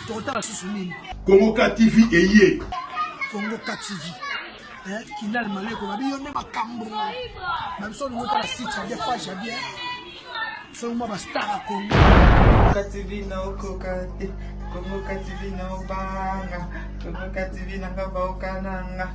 tokotala susu nini kongo ka tv eye kongo ka tv eh, kinal maleko babi yo nde makambo na biso olingi otala site ya bien page ya bien soki mwa bastar ya kongo ka tv naokoka te kongo ka tv naobanga kongo ka tv nanga baokananga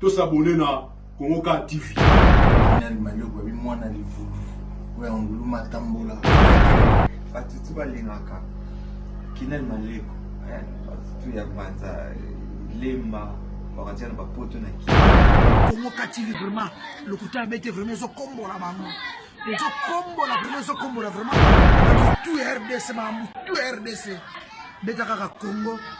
To s'abonner na Congo Car TV. Nani manioko ya bimwana livubu oyo ya ngulu matambola. Bato tu balingaka kinani maleko eh, bato tu ya banza lemba bakatia na bapoto na ki Congo Car TV vraiment lokuta abete vraiment ezokombola bango ezokombola vraiment ezokombola vraiment bato tu ya rdc makambo tu ya rdc beta kaka Congo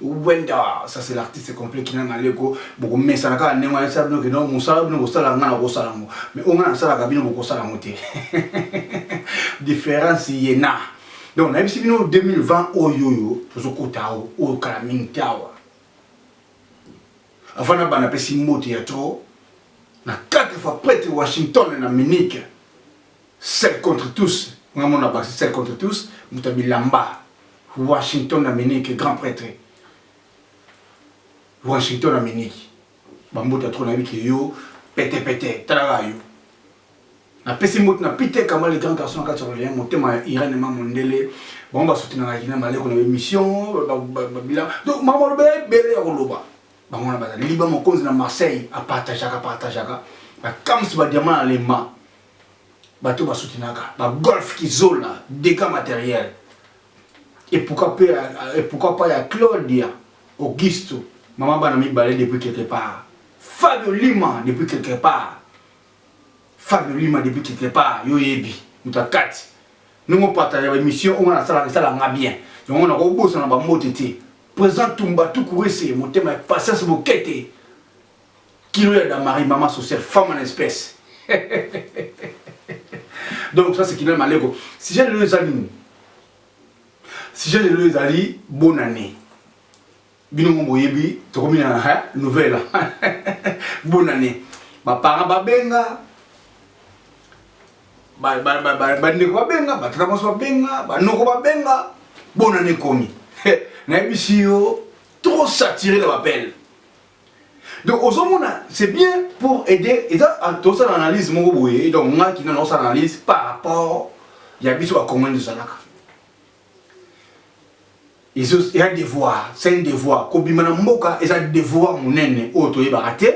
Wenda ça c'est l'artiste complet qui n'a pas leko boko mesana kaka ndenge wana esala bino ke non mosala bino kosala nga na kosala yango mais oyo nga nasalaka bino bokosala yango te différence ye na donc nayebisi bino 2020 oyo oyo tozokota awa oyo kala mingi te awa avant na bana apesi mbote ya trop na 4 fois prêtre washington na munike Seul contre tous nga mona Baxi seul contre tous moto ya bilamba Washington na Miniki grand pretre Washington na Miniki ba mbuta trop nayebi ke yo pete pete tala kaka yo na pesi mbutu na Peter Kamba le grand garçon na kati ya Orleans motema ya Irene ma mondele bango ba soutenaka Kina maleko na emission ba bilan donc makambo aloba ebele ya koloba bango wana bazali liba mokonzi na marseille apartageaka partageaka bakamsi badiama na lemba bato basutinaka bagolf kizola dega materiel et pourquoi pas, euh, et pourquoi pas ya Claudia Augusto maman bana mibale depuis quelque part Fabio Lima depuis quelque part Fabio Lima depuis quelque part yo yebi mutakati ndenge opatage baemission oyo nga nasalaka esala nga bien yango nakobosana bambote te présent tumba tukurese motema ya patience bokete kilo ya damari mama sociale femme en espèce donc ça c'est kinal maleko sujet lelo eza nini sujet lelo ezali bonne année bino ngo boyebi tokomi na hein, nouvelle bonne année baparent babenga bandeko babenga batata mwasi babenga banoko babenga bonne année ekomi nayebisi yo trop saturé na bapele donc ozomona c'est bien pour aider eza tosala analyse moko boye donc ngai kino naosala analyse par rapport ya biso bakongani tozalaka ya devoir c'est un devoir kobima na mboka eza devoir monene oyo toyebaka te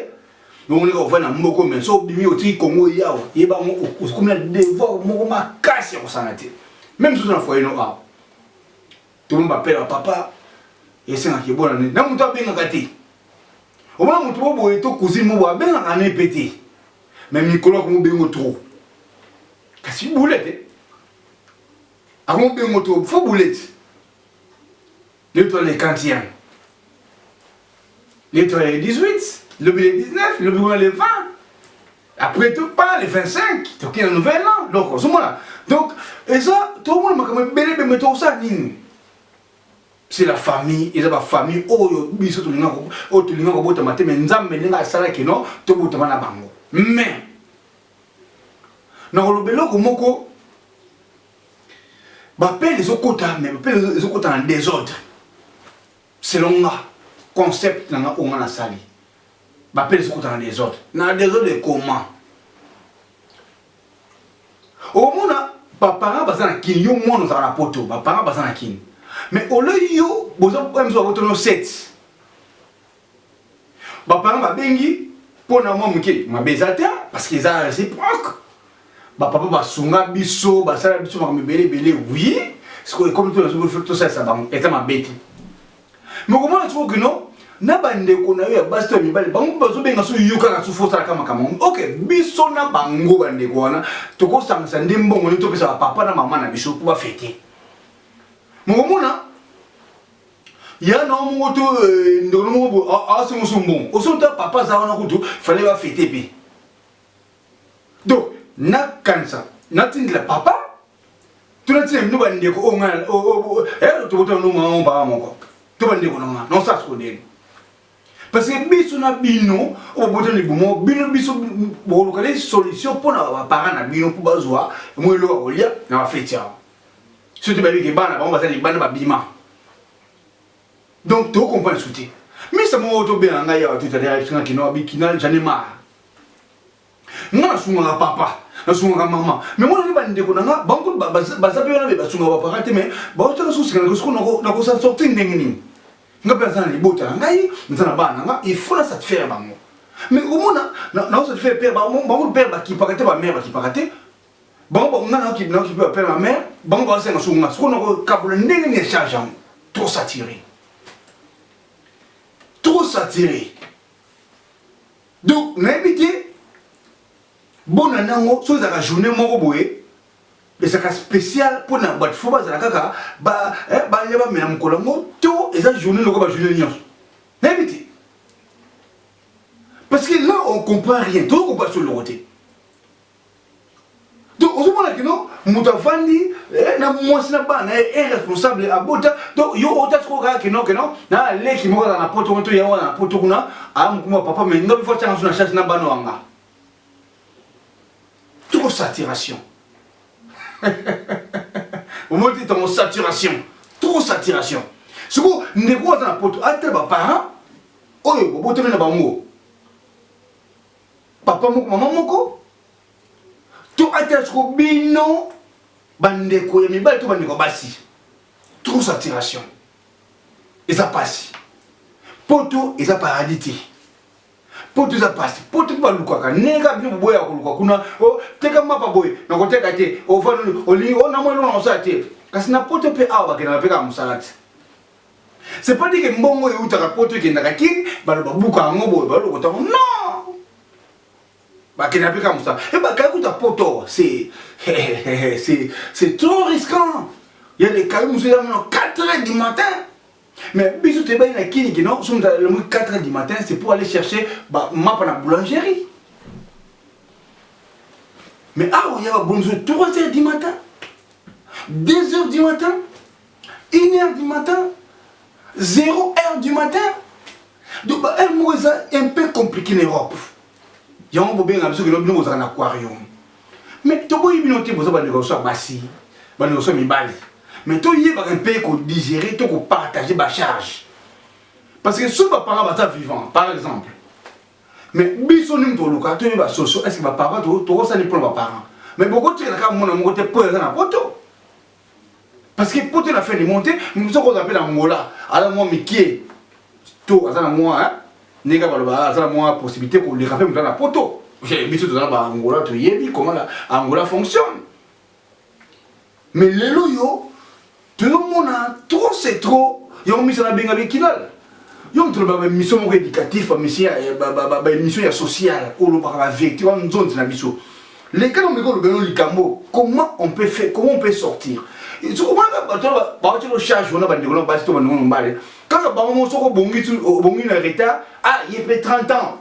omoneka ovai na mboko me so obimi otiki kongo yawa yeba yango okomi na devoir moko makasi ya kosana te meme soso na foyeno awa tomo bapela papa esengaka ebona ne na moto abengaka te omona moto mo boye to cousine mo boye abengaka ne mpe te me mikolo akomobengo trop kasi bule te Amu bengo to fo buleti. Le to le kantiam. Le to le 18, le le 19, le le 20. Après tout pas le 25, to ki na nouvel an. Donc ozo mona. Donc eza to mona makambo ebele be meto sa nini. C'est la famille, eza ba famille oyo biso to linga ko o to linga ko bota mateme nzambe ndenge asala kino to bota bana bango. Mais nakoloba eloko moko bapele ezokota me bapele ezokota na desordre selon nga concept na nga oyo nga nasali bapele ezokota na desordre na desordre ekoma omona baparent baza na kini yo mwana ozala na poto baparent baza na kini mais olei yo boza mso babotono 7 bapana babengi mpo na mwa moke mabe eza te parce que eza réciproque bapapa basunga biso basala biso makambo ebele ebele wi sikoyo ekomi to nazo tosalisa bango eza mabe te me komona sikoyo kino na bandeko na yo ya basi to ya mibale bango bazobenga so yo kaka sufu osalaka makambo yango ok biso na bango bandeko wana tokosangisa nde mbongo nde topesa bapapa na mama na biso mpo bafete mokomona ya na moko to eh, ndolo moko bo asengo so mbongo oso ta papa za wana kutu fallait ba fete pe donc na kanisa na tindila papa to na tindila mino ba ndeko o nga o o eh to bota no ma on ba moko to ba ndeko na nga non ça se ndeni parce que biso na bino o bota ni bumo bino biso bo lokale solution pona ba parents na bino po bazwa mo elo ko lia na fete ya soki bayebi ke bana bango baza libanda babima donc tokokomprendre su te misa moko tobenga ngai awa totalelakisanga kino abikina jane mara nga nasungaka papa nasungaka mama me mona ni bandeko na nga bango baza mpe wana be basungaka bapaka te me baotala sosikana kosiko nakosa sorti ndenge nini nga mpe naza na libota na ngai naza na bana na nga il faut na satisfaire bango me omona naosatisfaire pere bango pere bakipaka te bamere bakipaka te bango bango nga nao kibina okipe bapela ma mère bango baosenga so nga soko nakokabola ndenge nini charge yango trop saturé trop saturé donc nayebi te bona nango so ezalaka journée moko boye ezalaka spécial mpo na bato fo bazala kaka eh, balia bamela mokolo yango to eza journée lokola bajournée nyonso nayebi te parce que là on comprend rien tokoki koba soloko te donc ozomona kino moto avandi eh, na mwasi na bana ye eh, irresponsable abota donc yo otati ko kaka kino kino na leki moko azala na poto kuna to ya wana na poto kuna aya mokumba papa me nga bifo atyanga so na charge na bana wanga toko saturation omoni te tongo saturation toko saturation sikoyo ndeko aza na poto atala baparent oyo bobotami na bango papa moko mama moko to atela soko bino bandeko ya mibali to bandeko ya basi trop saturation eza pasi poto eza paradis te poto eza pasi poto mpe balukaka ndenge kaka bino boboya ya koluka kuna o oh, teka mapa boye nakoteka te ovandoli olingi o oh, namwa eloko na kosala te kasi na poto mpe awa bakendaka mpe kaka mosala te C'est pas dit que mbongo eutaka poto ekendaka kin baloba buka yango boye balokota yango non bakenda mpe kaka mosala e bakaya kuta poto c'est c'est trop risquant ya lekayo mosusu eza mino 4 heures du matin mais biso toyebaki na kini kino soki moto alemoki 4 heures du matin c'est pour aller chercher mapa na boulangerie mais awa ya babondiso 3 heures du matin 2 heures du matin Une heure du matin, zero heure du matin. Donc ba heure moko eza un peu compliqué na Europe. Yango bobenga biso kino bino bozalaka na aquarium. Mais toboyi bino te boza bandeko biso ya basi, bandeko biso ya mibali. Mais toyebaka mpe kodigere to kopartage bacharge. Parce que soki baparent baza vivant, par exemple, mais biso nini toluka toyeba soso est ce que baparent tokosani mpo na baparent mais bokotikala kaka mwana moko te mpo eza na poto parce que poto na fin du monde nous sommes appelé Angola alors moi mikie to aza na moi hein ndenge baloba aza na moi possibilité ko leka pe mutu na poto biso toza na ba Angola to yebi comment la Angola fonctionne mais lelo yo tozomona trop c'est trop yango miso na benga be kinal yo moto olobaka baémission moko éducatif baémission ya sociale olobaka bavérité wana nzonzi na biso leka na omeka olobela no likambo comment on peut faire comment on peut sortir sokomonaka bato bawaki locharge wana bandeko na basi to bandeko na mbale kaka bango mo soko obongi na retard ah ye mpe 30 ans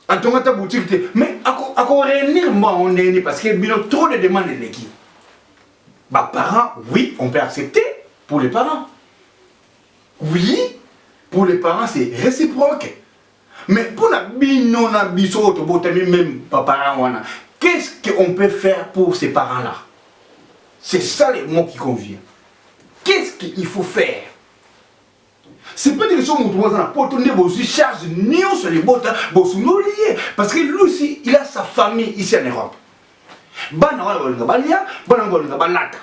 atonga ata boutique te mais ako réunir mbo yango ndenge nini parce que bino trop de demande eleki baparent oui on peut accepter pour les parents Oui, pour les parents c'est réciproque. Mais pour la bino na biso oyo tobotami même ba parents wana, qu'est-ce qu'on peut faire pour ces parents-là C'est ça le mot qui convient. Qu'est-ce qu'il faut faire c'est pas dire soki motu aza na poto nde bozwi charge nyonso libota bosundoli ye parce que lui aussi il a sa famille ici en europe bana wana balinga balia bana wana balinga balata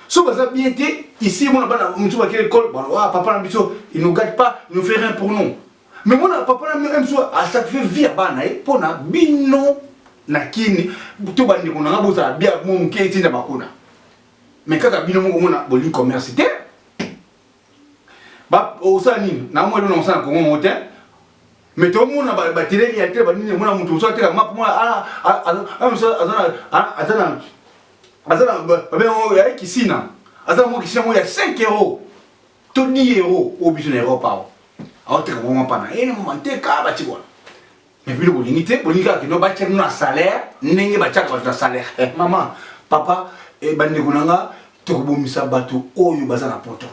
so baza bien te ici mona bana mosusu bakei ekole baloa papa na biso il nous gate pas nous fait rien pour nous mais mona papa na biso biso asacrifie vie ya bana ye mpo na bino na kini to bandeko na nga bozala bia mo moke etinda bakona mais kaka bino moko mona bolingi commerce te osala nini na mwa elona mosala na kongo moko te mais tomona bateleli ya te banini mona moto mosusu ateka map mona aza na aza na babe yango ya kisina aza yango kisina yango ya 5 euro to 10 euro oyo biso na europe awa aoteka bango mpana ene eh, manteka batiki wana mais bino bolingi te bolingi kaka kino batya bino na salaire ndenge batyaka bato na salaire eh, mama papa eh, bandeko na nga tokobomisa bato oyo baza na poto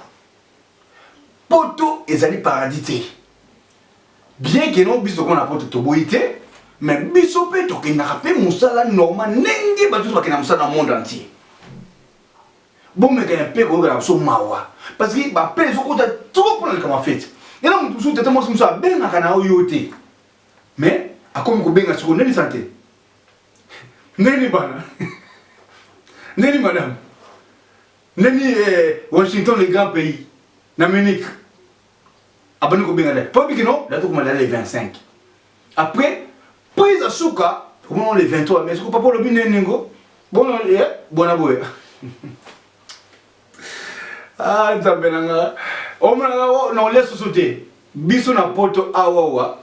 Poto ezali paradis te. Bien que non biso kona poto toboyi te, mais biso pe tokendaka pe musala normal ndenge bato nyonso bakenda musala na monde entier. Bomekana pe koyokela biso mawa parce que ba pe ezokota trop pona likambo ya fete. Yana moto mosusu tata mwasi mosusu abengaka na yo yo te. Mais akomi kobenga siko nani sante? Nani bana? Nani madame? Nani eh, Washington le grand pays na Munich abandi kobenga date po biki non date okoma date le 25 après prise ya suka okomo le 23 mais soki papa olobi nene ngo bono ye eh, bona boye ah nzambe na nga omonaka oh, na olia soso te biso na poto awawa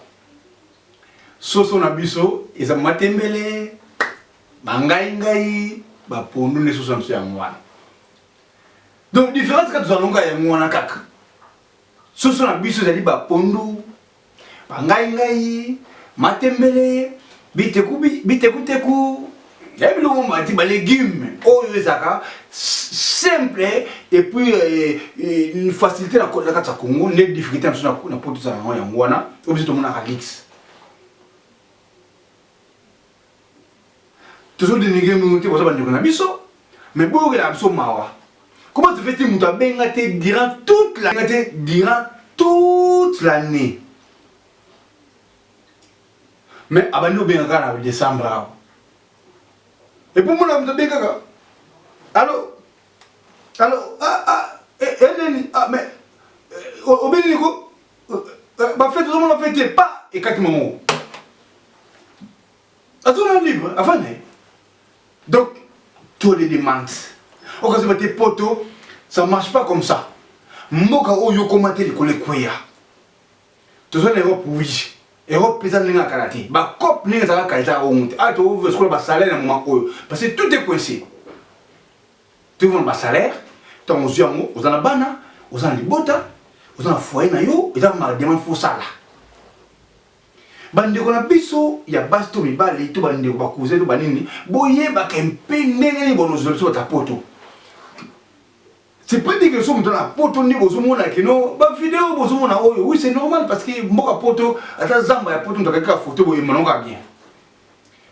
soso na biso eza matembele Ba ngai ngai ba pondu ne sosa mse yango wana. Donc différence kati zalonga yango wana kaka. Soso na biso ezali ba pondu, ba ngai ngai, matembele, biteku biteku teku, ya biloko mati ba légumes oyo ezaka simple et puis euh, euh, facilité na kota kati ya Congo nde difficulté na biso na poto za yango yango wana oyo biso tomonaka luxe tozo denigre bino te boza bandeko na biso mais boyokelaka biso mawa comment tu fais ti moto abenga te durant toute la te durant toute l'année mais abandi obenga kaka na décembre awa epuis mona moto abenga kaka alo alo ah, ah, eh, eh, eneni ah, mais eh, obeli niko bafete ozomona fete pa ekati mango azonga libre avant naye donc to les demandes okazoba te poto ça marche pas comme ça mboka oyo okoma te likolo ekweya toza na europe oui europe mpenza ndenge akala te bacope ndenge ezalaka kala ezalaka ongo te awa tokosokola basalaire na moma oyo parce que tout est coincé tovona basalaire ntango ozwi yango oza na bana oza na libota oza na foyer na yo eza mademande fosala Bandeko na biso ya basi to mibali to bandeko bakuze to banini, boyebaka mpe ndenge nini bonozwa biso bata poto. C'est pas dit que soki moto na poto nde bozomona kino bavideo bozomona oyo oui c'est normal parce que mboka poto ata zamba ya poto moto akaki kaka foto boye emonango kaka bien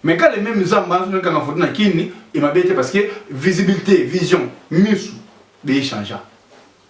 mais quand le même zamba azonaki kanga foto na kini emabe te parce que visibilité vision misu beyechangea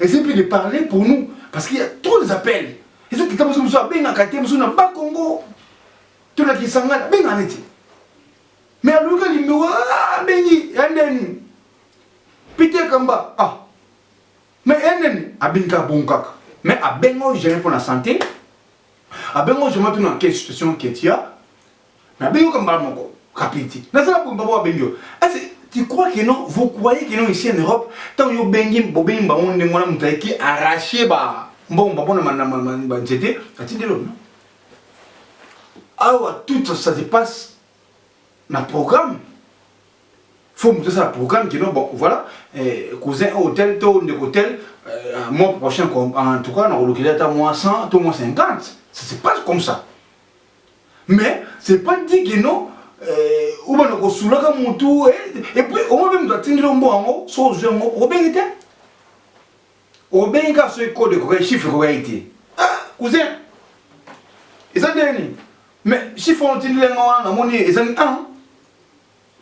Essayez plus de parler pour nous, parce qu'il y a trop des appels. Eza tata mosusu mosusu abengaka te mosusu na ba Congo to na Kisangani abenga neti mais aluka limero abengi ya ndeni Peter Kamba ah mais ya ndeni abengi kaka bongo kaka mais abenga oyo jamais mpo na santé abenga oyo jamais mpo na quelle situation ketia Na bengi comme bas moko. Kapiti. Na ça pour babo bengi yo. Est-ce tu crois que non vous croyez que non ici en Europe tant yo bengi bo bengi bango ndenge wana mutu ayaki arracher ba mbomba pona manama ba nzete atindeli yo non awa tout ça se passe na programme faut moto asala programme kino bon voilà eh, cousin oyo tel to ndeko tel euh, mois prochain en tout cas nakolukeli ata mois 100 to mois 50 ça se passe comme ça mais c'est pas dit que non euh, obanda kosulaka mutu eh, et puis omo mpe moto atindeli ombo yango so ozwi yango obengi te obengi kaka soki code ekokai chiffre ekokai te ah, cousin eza ndenge nini mais chiffre wana otindeli yanga wana namoni ezangi 1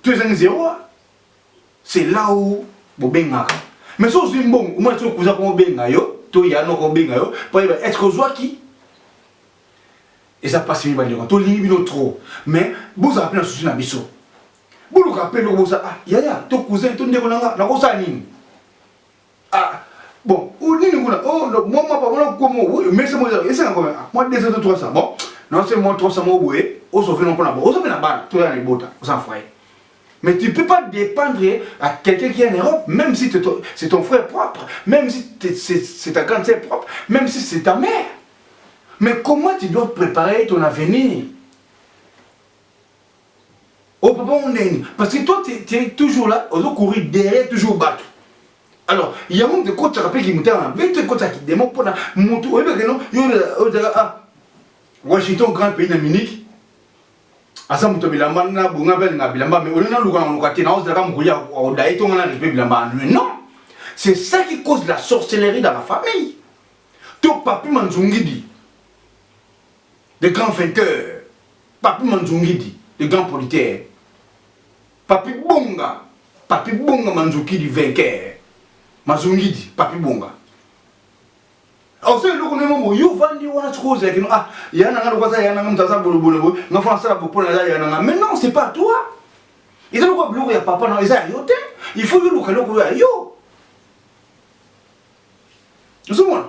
to ezangi 0 c'est là où bobengaka mais so ozwi mbongo omona soki kuza komobenga yo to yanoko obenga yo payeba est ce que ozwaki eza pasi mingi bandeko tolingi bino trop mais bozala mpe na susi na biso boluka mpe eloko boza ah yaya to cousin to ndeko na nga nakosala nini ah bon o nini kuna o mwa mwa pamona komo mese mo esanga kome mwa 200 to 300 bon non c'est mwa 300 mo boye osofe no mpona bo osofe na bana to ya na libota oza na foyer Mais tu ne peux pas dépendre à quelqu'un qui est en Europe, même si c'est ton, ton, frère propre, même si c'est ta grande sœur propre, même si c'est ta mère. Mais comment tu dois préparer ton avenir au papa ondeni parce que toi tu es toujours là ozo courir derrière toujours bato alors yango moto ekotaka mpe kimotema na bino to ekotaka kidemo mpona moto oyebaka no ozala a ah, washington grand pays na munike aza moto bilamba na bonga mpe alinga bilamba mais olingi naluka na luka te naozalaka mokoli aodaye to nga na respect bilamba anlue non c'est ça qui cause la sorcellerie dans la famille to papi manzungidi le grand vainqueur papi manzungidi le grand politaire papi bonga papi bonga manzukidi vainqueur mazungidi papi bonga ozo eloko ndenge moko yo vandi wana sikoyo ozalaki no ah ya nanga loko aza ya nanga moto aza bolobolo boye nga fo nasala bopona aza ya nanga mais non c'est pas toi eza lokola biloko ya papa na eza ya yo te il faut yoluka eloko oyo ya yo ozomona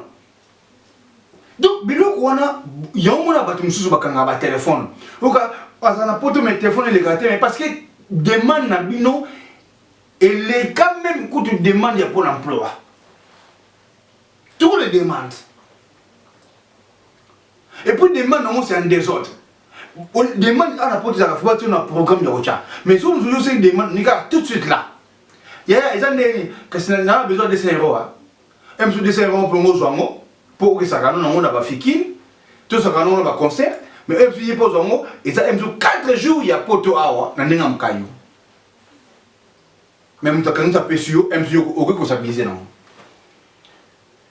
donc biloko wana yango mona bato mosusu bakangaka batelefone oka aza na poto mai telefone elekaka te mai parce que demande na bino eleka meme kutu demande ya pôle emploi tout le demande et puis demande yango c'est en désordre demande ana poto ezalaka fo batio na programme ya kotya mais soki mosusu oseki demande nika tout de suite là yaya eza ndenge nini kasi na na besoin de 200 euros hein msu 200 euros mpo ngo zwango mpo okesaka no nango na ba fikini to saka no na ba concert mais msu ye mpo zwango eza msu 4 jours ya poto awa na ndenge mkayo mais moto akanisa pesi yo msu yo okoki kosabilize nango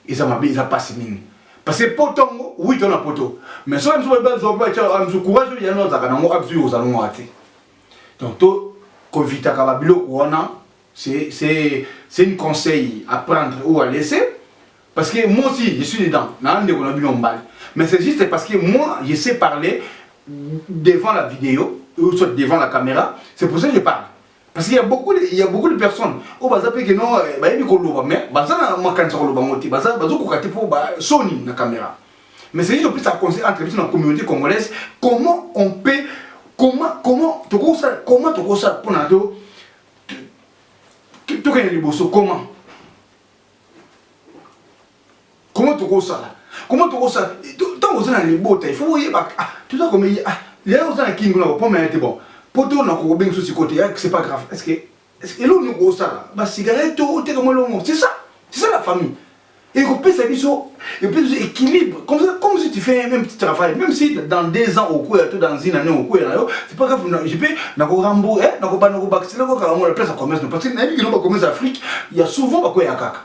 Eza mabe eza pasi mingi. Parce que poto yango oui to na poto. Mais soki biso ba zo ba tchalo amzu courage oyo yana ozaka nango abzu yo ozalo ngo ate. Donc to ko vita ka ba biloko wana c'est c'est c'est une conseil à prendre ou à laisser. Parce que moi aussi, je suis dedans. Mais c'est juste parce que moi, je sais parler devant la vidéo, ou soit devant la caméra. C'est pour ça que je parle. Parce qu'il y a beaucoup de, il y a beaucoup de personnes au baza pe que non eh, ba yebi ko loba mais baza na makanisa ko loba ngote baza bazo ko kati pour ba soni na caméra. Mais c'est juste plus à conseil entre biso na communauté congolaise comment on peut comment comment to ko ça comment to ko ça pour na do to ko liboso comment Comment tokosala Comment tokosala Ntango oza na libota, il faut oyeba ah, toza komeyi ah, lelo oza na kini kuna bapoma ya te bon poto na kokobenga so sikoyo te ah, c'est pas grave est-ce que eloko nini okosala basigarete to oteka mwa eloko c'est ça c'est ça la famille ekopesa biso epesa biso équilibre comme ça comme si tu fais un même petit travail même si dans deux ans okoya to dans une année okoya na yo c'est pas grave je peux na ko rambo eh na ko bana ko bakisela ko kala ngo la place ya commerce parce que na yebi kino ba commerce Afrique ya souvent ba koya kaka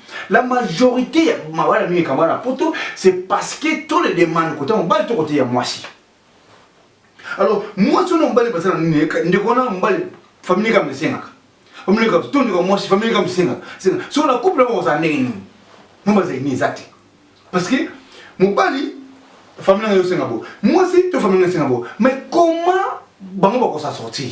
La majorité ya mabala mingi ekamba na poto c'est parce que to le demande kota mobali to kote ya mwasi alors mwasi wana mobali baza na nini ndeko wana mobali famille kama esengaka famille kama to ndeko mwasi famille kama esengaka so na couple yango kozala ndenge nini mo bazali nini eza te parce que mobali famille nanga yosenga bo mwasi to famille nanga esenga bo mais comment bango bakosa sortir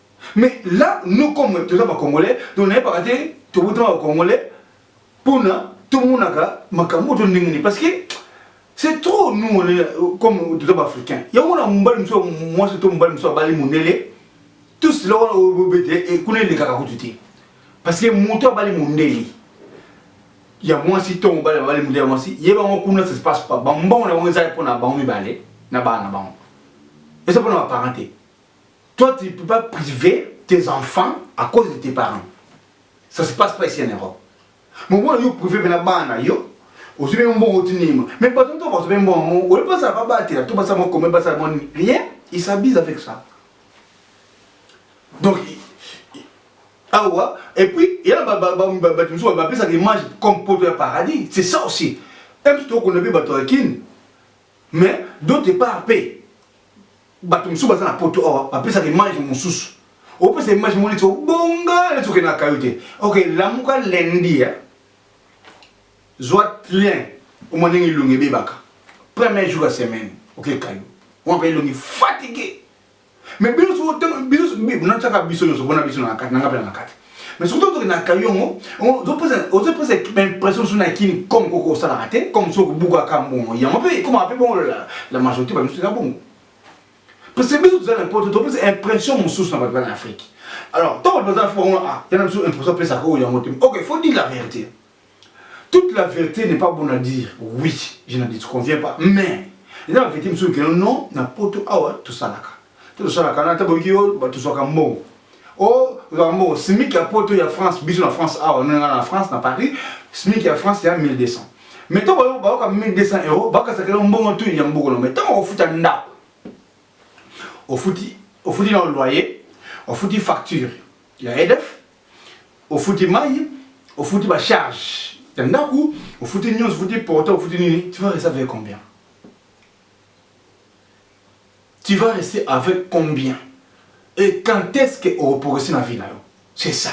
Mais là, nous comme tous les Congolais, nous n'avons pas raté tout le temps Congolais pour tout le monde a makambo to ndenge parce que c'est trop nous on est comme tout les Africains. Il y a on a mbal mso moi c'est tout mbal mso bali mundele tout cela on obédé et connaît les kaka kututi. Parce que moto bali mundele. Il y a moi si ton bali bali mundele moi si yeba ngo kuna ça se passe pas. Bamba on a on za pour na bango mibale na bana bango. Et ça pour na parenté. Toi tu ne peux pas priver tes enfants à cause de tes parents. Ça se passe pas ici en Europe. Mais moi yo privé bena bana yo ozwi mpe mbongo otinima mais bato nto bato mpe mbongo yango oyebi basala babatela to basala mokome basala moni rien il s'abuse avec ça donc awa ah et puis ya bato mosusu bapesaka image comme poto ya paradis c'est ça aussi mpe tokona mpe bato ya kini mais d'autre part mpe bato mosusu baza na poto awa bapesaka image mosusu opesa image moko neti obonga neti okende na kayo te ok lamuka lendi ya zwa train omwa ndenge elongi ebebaka premier jour ya semaine oke kayo omwa mpe elongi fatigue mais biso ntango biso natiaka biso nyonso mpona biso na kati nanga mpe na kati mais surtout toke na kayongo ozoposa impression so na kini comme koko osalaka te comme so okobukaka mbongo yango mpe ekomaka mpe bongo la majorité bamisu eza bongo parce que biso toza na poto topesa impression mosusu na bato bana afrique alors ntango bato baza afrique bango a yana biso impression apesaka oyo yango te ok faut dire la vérité Toute la vérité n'est pas bonne à dire. Oui, je n'en disconviens pas. Mais, eza ba vérité mosusu keno non na poto awa tosalaka te tosalaka na ata boyoki yo bato tozwaka mbongo o oh, tozwaka mbongo simic ya poto ya france biso na france awa nonga na france na paris simic ya france ya 1200 mais to bayoka 1200 euro bakasaka yo mbongo tu ya mboko na mai ntango ofuta ndako ofuti ofuti na loyer ofuti facture ya edf ofuti mayi ofuti ba charge ya ndaku ofuti nyonso ofuti porta ofuti nini tu vas rester avec combien tu vas rester avec combien et quand est-ce que okoprogresse na vie na yo c'est ça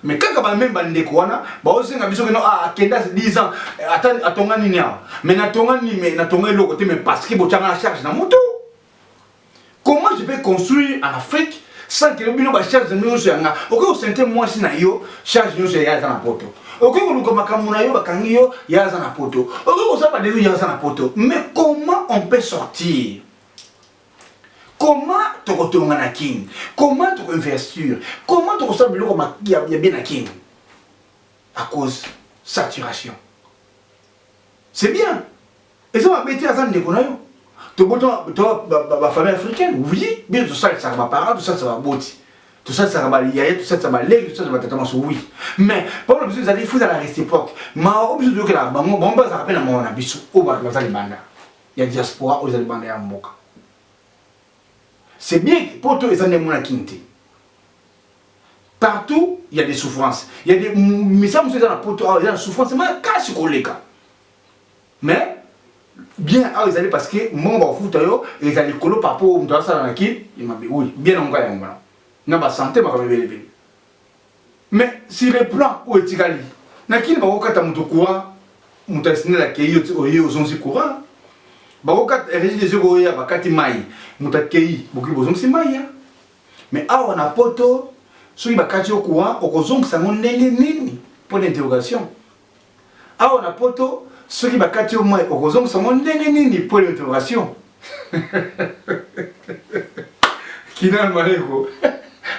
mais kaka bameme bandeko wana baosenga biso keno ah, akenda 10 ans eh, ata atonga nini awa mais natonga nini mais natonga eloko te mais parce que botyanga na charge na motu Comment je peux construire en Afrique sans que bino ba charge nyonso ya nga okoki kosente mwasi na yo charge nyonso ya aza na poto okoki koluka makambo na yo bakangi yo ya aza na poto okoki kosala badelu ya aza na poto mais comment on peut sortir comment tokotonga na kin comment tokoinvestir comment tokosala biloko ya bien na kin à cause saturation c'est bien eza mabe te aza ndeko na yo tobota bafamille africaine oui bino tosalisaka baparent tosalisaka baboti tosalisaka bayaya tosalisaka baleki tosalisaka batata maso oui mais problème biso ezali fo ezala réciproque mawa oyo biso toyokelaka bango bango bazalaka mpe na mawa na biso oyo bato baza libanda ya diaspora oyo eza libanda ya mboka c'est bien poto eza nde mona kini te partout il y a des souffrances il y a des misa mosusu eza na poto awa eza na souffrance makasi koleka mais bien awa ezali parce que mbongo bakofuta yo eza likolo par rapport moto asala na kin emabe oui bien na ngai yango wana na basante makambo ebele ebele mais sur le plan oyo etikali na kini bakokata moto courant moto asinela akei oye ozongisi courant bakokata régie des yeux oya bakati mai moto akei bokoki bozongisi mai ya mais awa na poto soki bakati yo courant okozongisa yango ndenge nini mpo na interrogation Awa na poto soki bakati yo mai okozongisa ngo ndenge nini point d'interrogation kinal maleko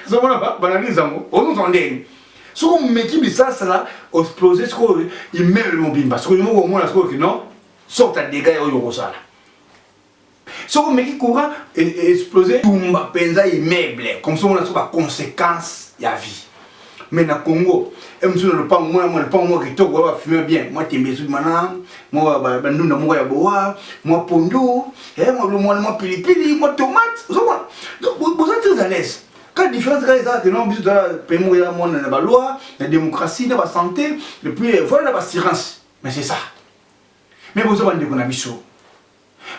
ozomona banalise yango ozongisa ndenge soki omeki bisasala osplose sikoyo immeuble mobimba sikoyo moko omona sikoyo kino sorte ya dega ya oyo okosala soki omeki courant e, e, explose tumba mpenza immeuble comme ça omona so baconséquence ya vie mais na congo emusu na lopango mwana mwa lopango mwa kitoko oyo bafilme bien mwa tembe ezumana mwa bandunda moko ya boa mwa pondu eh, mwana mwa pilipili mwa tomate ozomona boza très à l'aise ka différence kaka ezalaka keno biso tozala pemoko ya mwana na baloi na démocratie na basanté epuis eh, voilà na bassurance mais c'est ça mais boza bandeko na biso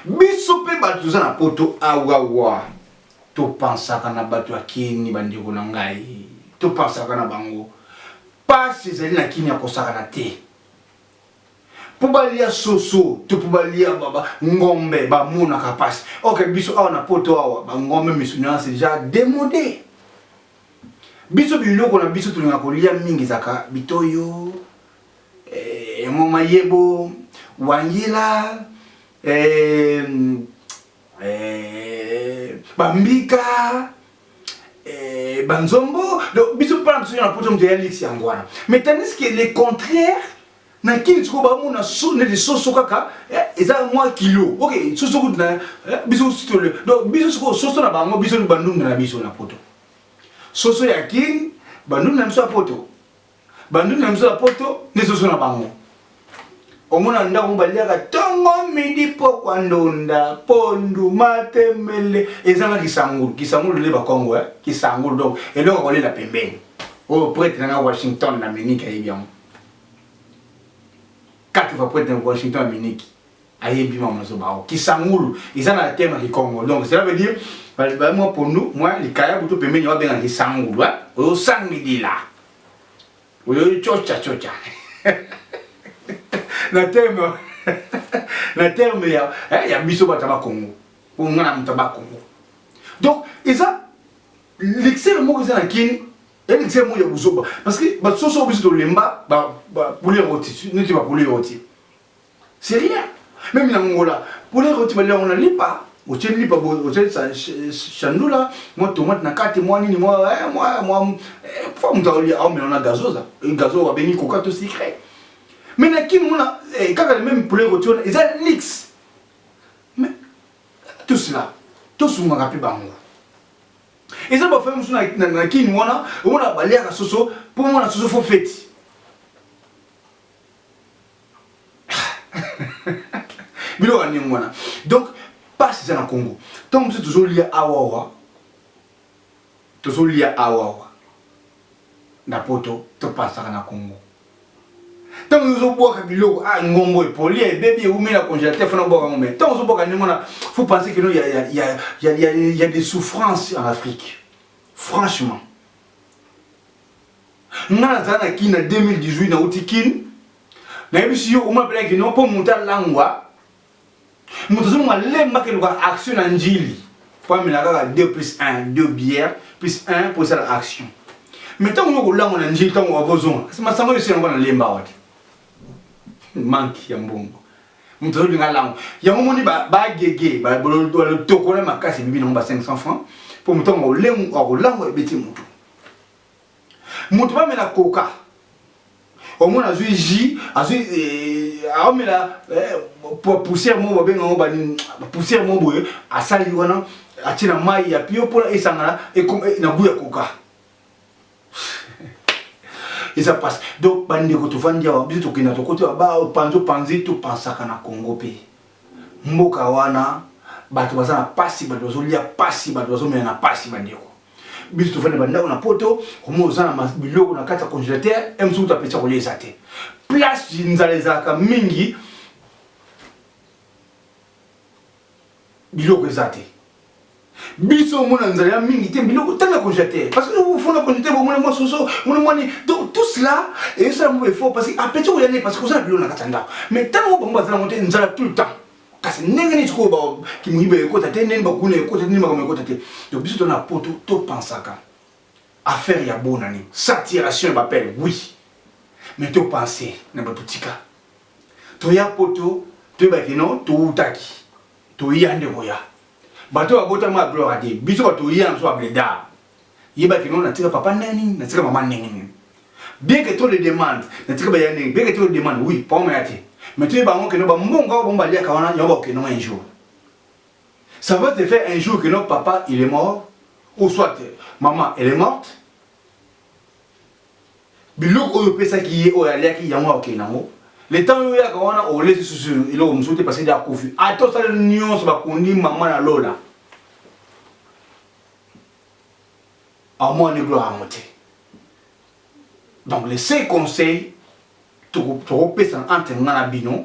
Biso pe batu toza na poto awawa to pensaka na batu ya kin ba ndeko na ngai to pensaka na bango pasi ezali na kin ya kosakana te po balia soso to po balia ngombe bamonaka mpasi oke biso awa na poto awa bangombe misuni wana seja demode biso biloko na biso tolinga kolia mingi ezaka bitoyo eh, mon mayebo wangila eh, eh, bambika eh, banzombo donc biso mpona biso na poto moto ya lisi yango wana mais tandis que le contraire na kini sikoyo bamona neti soso kaka eh, eza mwa kilo ok soso kutu na eh, biso sitole donc biso sikoyo soso na bango biso bandunda na biso na poto soso ya kini bandunda na biso ya poto banduni na biso ya poto nde soso na bango omona ndako baliaka ntongo midi pokwa ndonda pondu matembele ezanga kisangulu kisangulu leba kongo eh? kisangulu donc eloko kolela pembeni oyo oh, prete nanga washington na miniki ayebi yango kati va prete na washington na miniki aye bima mazo bao kisangulu eza na tema kikongo donc cela veut dire bali ba mwa pondu mwa likaya butu pembeni wa benga kisangulu hein oyo sangi dila oyo chocha chocha na terme na terme ya eh, ya biso bata ba Congo po ngana muta ba Congo donc eza l'excès moko eza na kini et l'excès moko ya buzoba parce que ba soso biso tolemba ba ba poulet rôti neti ba poulet rôti C'est rien. Même na ngola, pour les retirer les on a lipa, au tien lipa, au tien sa chandoula, moi tomate na carte, moi ni moi, eh, moi, moi, eh, faut me dire, ah, mais on a gazosa, euh, gazo a béni coca tout secret. Mais na qui on a, eh, quand le même poulet retirer, ils a lix. Mais, tout cela, tout ce qu'on a pu bango. Ils ont fait monsieur na na qui on a, on a balé à la soso, pour moi la soso faut fêter. biloko ya ndenge wana donc mpasi eza na congo ntango mosusu tozolia awawa tozolia awawa na poto topasaka na congo ntango yo ozobwaka biloko a ah, ngongo epoli ebebi ewumi na congélateur fana obwaka yango mai ntango ozobwaka ndenge wana faut penser que no ya des souffrances en afrique franchement nga nazala na kin na 2018 nauti kin nayebisi yo oma belaki no mpo moto alangwa moto azonga lemba keluka action na njili mpo amela kaka 2 plus 1 2 bière plus 1 mpo esala action me ntango yo kolangwa na njili ntango akozonga masango yosi yango na lemba awa te manki ya mbongo moto azolinga lango yango moni bagege balotoko na makasi ebibi nango ba 500 francs mpo moto yango akolangwa ebeti motu moto bamela koka omona azwi jus azwi eh, aomela eh, poussière moko babenga yango poussière moko boye asali wana atie na mai ya pio mpona esangana eh, na gout ya koka eza mpasi donc bandeko tofandi awa biso tokenda tokoti baba opanzi opanzi topansaka na congo mpe Mboka wana bato baza na pasi, bato bazolia pasi, bato bazomela na pasi bandeko. biso tofandi ba ndako na poto komona oza na biloko na kati ya congélateur e mosuku ta pesa kolia eza te place nzala ezalaka mingi biloko eza te biso omona nzala ya mingi te biloko tanga congélateur parce que ofona congélateur bomona mwa soso mona mwa nini donc tout cela ezosala mwa effort parce que apeti okoya nde parce que oza na biloko na kati ya ndako mais ntango bango baza nango te nzala tout le temps kasi ndenge nini sikoyo kimoyiba ekota te ndeni bakuna ekota te ndeni makambo ekota te donc biso tona poto topansaka affaire ya bonani saturation ya bapele oui mais topanse na bato tika toya poto toyebaki no towutaki toya nde koya bato oyo babotama ya gloire ade biso bato toya na biso babledar yeba ke nao natika papa ndenge nini natika mama ndenge nini bien que trop de demande natika baya ndenge bien que trop de demande oui papa maya te mais toyeba yango keno bambongo oyo bango baliaka wana yango bakokendongo un jour ça va te faire un jour que notre papa il est mort ou soit maman elle est morte biloko oyo opesaki ye oyo aliaki yango akokende nango le temps yo oyaka wana olesi susu eloko mosusu te parce que akufi ata osali nyonso bakundi mama na lola amwani gloire yango te donc le seul conseil tokopesana entre nga na bino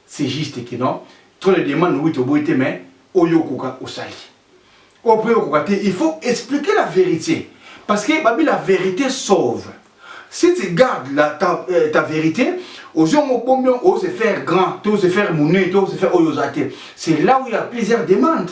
C'est juste que non trop de demande oui toboyi te mais oyo okoka osali oyo mpe okoka te il faut expliquer la vérité parce que babi la vérité sauve si tu gardes la, ta, euh, ta vérité ozongo obomi oyo se faire grand to se faire monene to se faire oyo oza te c'est là où il y a plusieurs demandes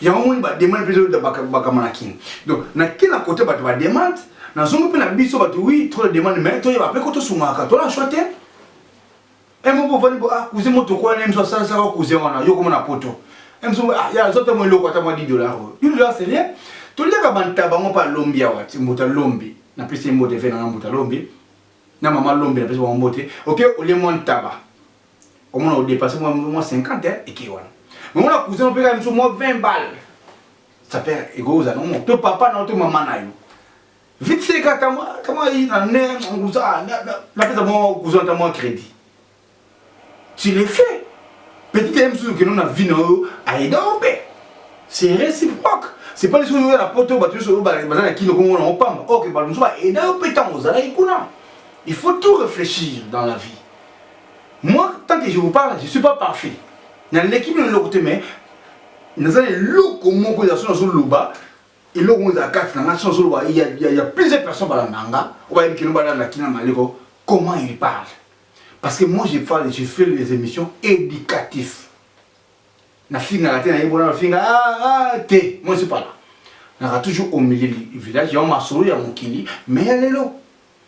yango moni ba demande mpe ezolota bakama na kin donc na kin na kote bato ba demande na zongo mpe na biso bato wi trop de demande mais toyeba mpe ko tosungaka tola choix te e moko ovandi bo ah cousin mo tokola na biso asalisaka cousin wana yo komona poto e biso ah ya azwa mpe mo eloko ata mwa 10 dollar oyo 10 dollar c'est rien toliaka bantaba ngo mpe alombi awa ti mbuta lombi na pesi ye mbote ve na nga mbuta lombi na mama lombi na pesi bango mbote oke olie mwa ntaba omona odepase mwa mwa 50 eh, eke wana omona cousin opeka biso mwa 20 balle sapere ekozala nomo to papa na yo to mama na yo vite seka tama yi na ne nguza napesa mwa cousin ata mwa crédit tu le fais petit ye mosusu okende na vie na yo ayeda yo mpe c'est réciproque c'est pas lisusu oyo na poto bato nyonso oyo baza na kino kongo na opamba oke bato mosusu baeda yo mpe ntango ozalaki kuna il faut tout réfléchir dans la vie moi tant que je vous parle je suis pas parfait naleki bino eloko te mais naza na eloko moko ya so nazoloba eloko moko ezala kati na ngai so nazoloba ya plusieurs personnes balanda nga oyo bayebi kino balanda kina maleko comment il parle parce que moi je parle je fais les émissions éducatifs nafingaka te nayebi bona nafinga ah, ah, te moi je suis pas là naka toujours au milieu du village yango masolo ya mokili mais ya lelo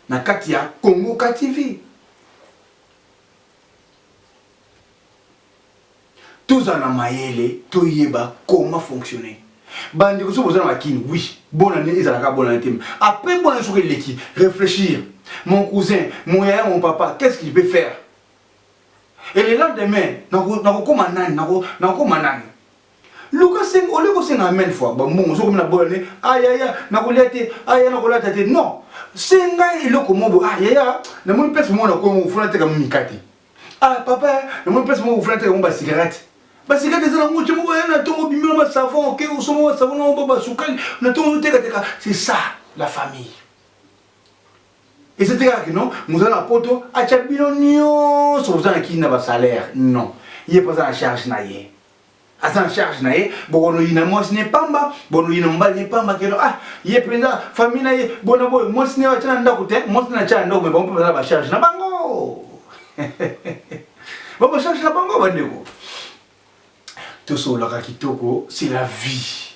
na kati ya Congo ka TV. Tozala na mayele toyeba comment fonctionner. Bandeko soki boza na makini oui bonne année ezalaka bonne année te après bonne année soki eleki réfléchir mon cousin mon yaya mon papa qu'est-ce qu'il peut faire et le lendemain nakokoma nani nakokoma nani Luka senga, olie kosenga amen fois ba mbongo sokomi na bola ne ah yaya nakolia te ah yaya nakolata te non senga eloko mobo ah yaya namoni place moko na kongo ofuna teka mikate ah papa namoni place moko ofuna teka mo basigarate basigarate eza nango te moko na ntongo obimi na basavon oke osombo basavon na obo basukali na ntongo ozotekateka c'est ça la famille eza te kaka kino moza na poto atya bino nyonso boza na kini na basalaire non ye mpo aza na charge na ye aza en charge na ye bokonoyina mwasi ne pamba bonoyina mobali ne pamba keno ah ye mpenza famille na ye bona boye mwasi ne atya na ndako te mwasi ne atya na ndako me bango mpe baza na bacharge na bango babacharge na bango bandeko tosololaka kitoko c'est la vie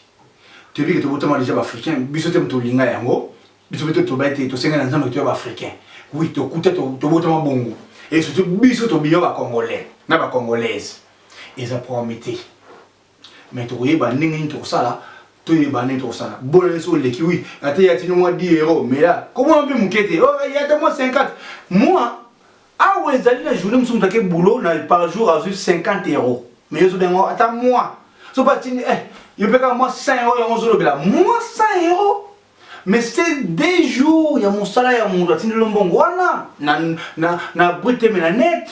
toyebi ke tobotama deja baafricain biso te moto olinga yango biso mpe totoba ete tosenga na nzambe toya baafricain wi tokuta tobotama bongo e surtout biso tobiyo bacongolais na bacongolaise Eza problème te. Mais tokoyeba ndenge nini tokosala toyeba ndenge tokosala. Bola nso oleki oui. Ata ya tino mwa 10 euro mais là komona mpe moke te. Oh ya ta mwa 50. Moi awa ezali na journée mosusu moto ake boulot na par jour azwi 50 euro. Mais yo ozobenga ata moi. So pa tindi eh yo mpe kaka mwa 100 euro yango ozolobela mwa 100 euro mais c'est des jours ya mosala ya moto atindelo mbongo wana na, na, na brute me na nete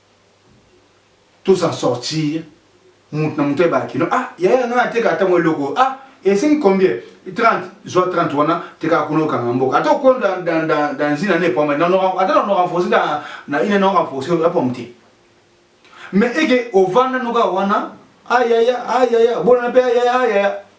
tous en sortir mutu na mutu ayebaka kino ah yaya ngai nateka ata mwa eloko oyo ah esengi combien 30 zwa 30 wana tekaka kuna okanga mboka ata okolo dans une année pomme ata na renforce na une année renforce ya pomme te mais eke ovanda noka wana ayaya ayaya bolana mpe ayaya ayaya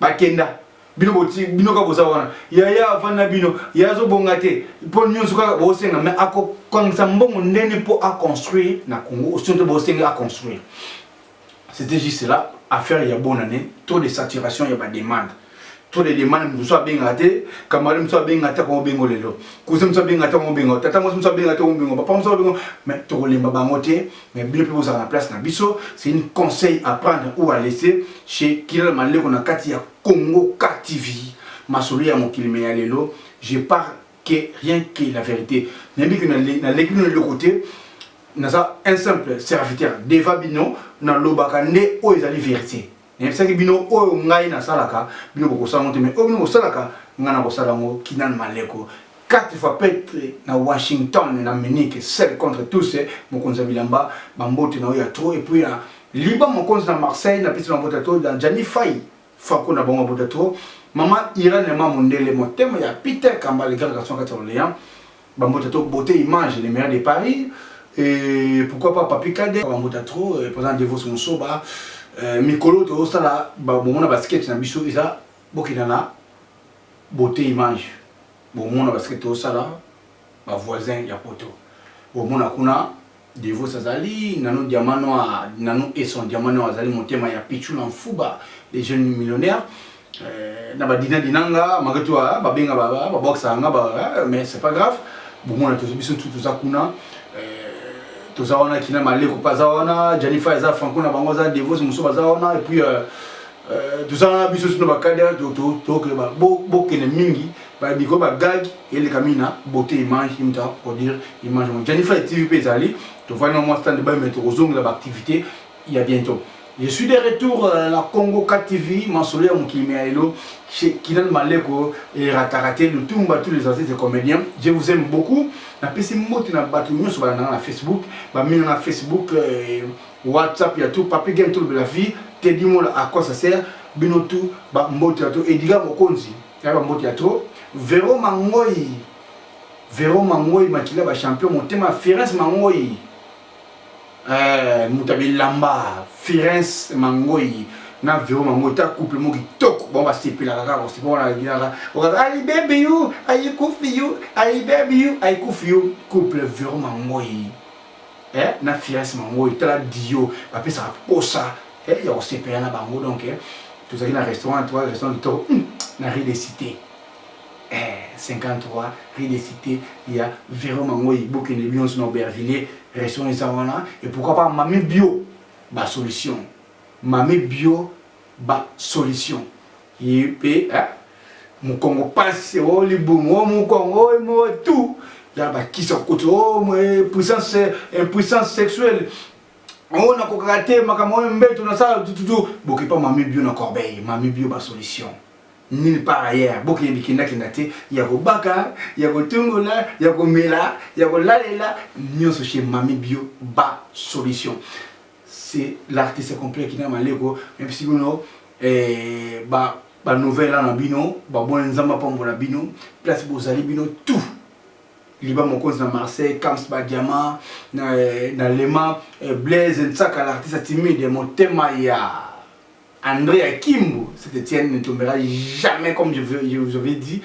bakenda bino boti bino kaka boza wana yaya avandi na bino yaya azobonga te mpo nyonso kaka bosenga me akokangisa mbongo ndeni mpo aconstruire na congo osio te bosenga aconstruire c'était juste là affaire ya bonne année trop de saturation ya bademande trop de demande mosusu abengaka te camarade mosusu abengaka te akongo bengo lelo cousin mosusu abengaka te akongo bengo tata mosi mosusu abengaka te akongo bengo papa mosusu abengo mais tokolemba bango te mais bino mpe bozala na place na biso c'est une conseil à prendre ou à laisser chez kilala maleko na kati ya congo k tv masolo ya mokili me ya lelo je parle que rien que la vérité nayebi ke naleki bino eloko te naza un simple serviteur deva bino nalobaka nde oyo ezali verité nayebisaki bino oyo ngai nasalaka bino bokosala yango te mai oyo bino bosalaka ngai nakosala yango kinan maleko 4 fois petre na washington na munike sel contre tous mokonzi ya bilamba bambote na oyo ya tro epuis ya liba mokonzi na marseille na pesi mabota to na jani fai fako na bango mabota tro mama irene ma mondele motema ya peter kambale grand garçon kati ya orleans Bambota to beauté image le meilleur de Paris et pourquoi pas Papi Kade bambota trop euh, président Devos Musoba euh, mikolo to sala ba bomona ba sketch na biso eza bokina na beauté image bomona ba sketch to sala ba voisins ya poto bomona kuna Devos azali nanu diamant noir nanu et son diamant noir azali motema ya pitchoula nfuba le jeune millionnaire euh, na ba dina dina nga malgré tout ah, ba benga ba ba boxa nga ba ah, mais c'est pas grave bomona tozo biso tout toza kuna euh, toza wana kina maleko pa za wana Jennifer eza franco na bango za devos muso baza wana et puis euh, Euh, tozanga biso sino bakadere tokende bokende mingi babiko bagage eleka mingi na beauté image imta pour dire image yango janifai tv mpe ezali tofandi na mwa stand bayo mai tokozongela baactivité ya bientôt Je suis de retour à euh, la Congo KTV, Mansolé Moukimiaelo, chez Kinan Maleko et Ratarate, le Tumba, tous les artistes et comédiens. Je vous aime beaucoup. La PC Moti na Batumio sur la Facebook, Bamina na Facebook, euh, WhatsApp ya tout papi gen tout la vie Teddy Mola à quoi ça sert bino tout ba mbote ya trop Edgar Mokonzi ya ba mbote ya trop Vero Mangoyi Vero Mangoyi makila ba champion motema Firens Mangoyi eh muta bilamba Firens Mangoyi na vero mango ta couple mo kitoko bango basepelaka kaka kosepa wana alingaka okaka ayi baby you ayi kufi you ayi baby you ayi kufi you couple vero mangoyi eh, na fiance mango oyo tala dio bapesaka posa eh, ya kosepela na bango donc eh, tozalaki na restaurant to restaurant kitoko hmm, na rue de cité eh, 53 rue de cité ya vero mango ibokende bionso na aubervillier restaurant eza wana et pourquoi pas mami bio basolution mami bio basolution Ipe eh mukongo pasi o oh, libumu o oh, mukongo o oh, mo tout ya bakisa kuti o puissance impuissance sexuelle oyo nakokaka te makambo oyo mbeto nasala tututu bokipa mami bio na corbeille mami bio basolution nulle part ailleurs bokende bikendakenda te ya kobaka ya kotungola ya komela ya kolalela nyonso chez mami bio ba solution c'est l'artiste complet kina maleko mepesi bino eh, ba ba nouvelle na bino baboni nzambe apambola bino place bozali bino tout liba mokonzi na marseille cams badiama na, eh, na lema eh, blaise nsaka l'artiste timide motema ya Andre ya Kimbo, cet Etienne ne tombera jamais comme je, veux, je vous avais dit.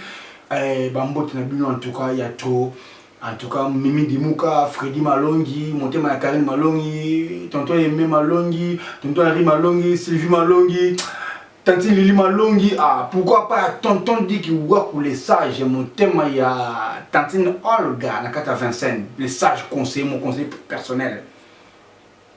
Eh, bambote na bino en tout cas ya trop. En tout cas, Mimi Dimuka, Freddy Malongi, Montema ya Karine Malongi, Tonton Aimé Malongi, Tonton Henri Malongi, Sylvie Malongi, Tanti Lili Malongi. Ah, pourquoi pas Tonton Dick Waku, les sages, Montema ya Tantine Olga, Nakata Vincent, les sages conseillers, mon conseiller personnel.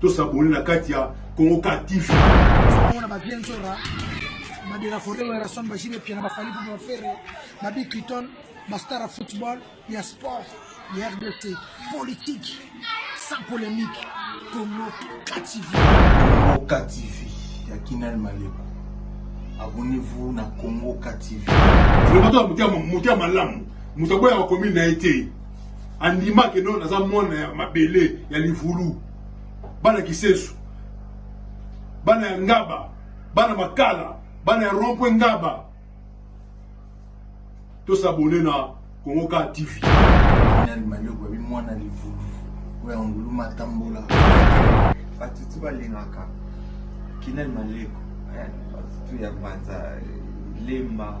To s'abonner na kati ya Congo Car TV. Ona ba bien zora. Ba de la forêt wa rason ba jibe piana ba fali ba ferre. Ba bi Clinton, ba star football, ya sport, ya RDC, politique sans polémique. Congo Car TV. Congo Car TV ya Kinal Maleko. abonnez-vous na Congo KTV. Vraiment toi mutia mutia malamu. Mutaboya wa commune na été. andima ke no naza mwana ya mabele ya livulu bana kisesu bana ya ngaba bana makala bana ya rompwe ngaba tosabone na kongo ka tv nani manioko abi mwana livulu oyo ya ngulu matambola batutu balingaka kinani maleko batutu ya banza lemba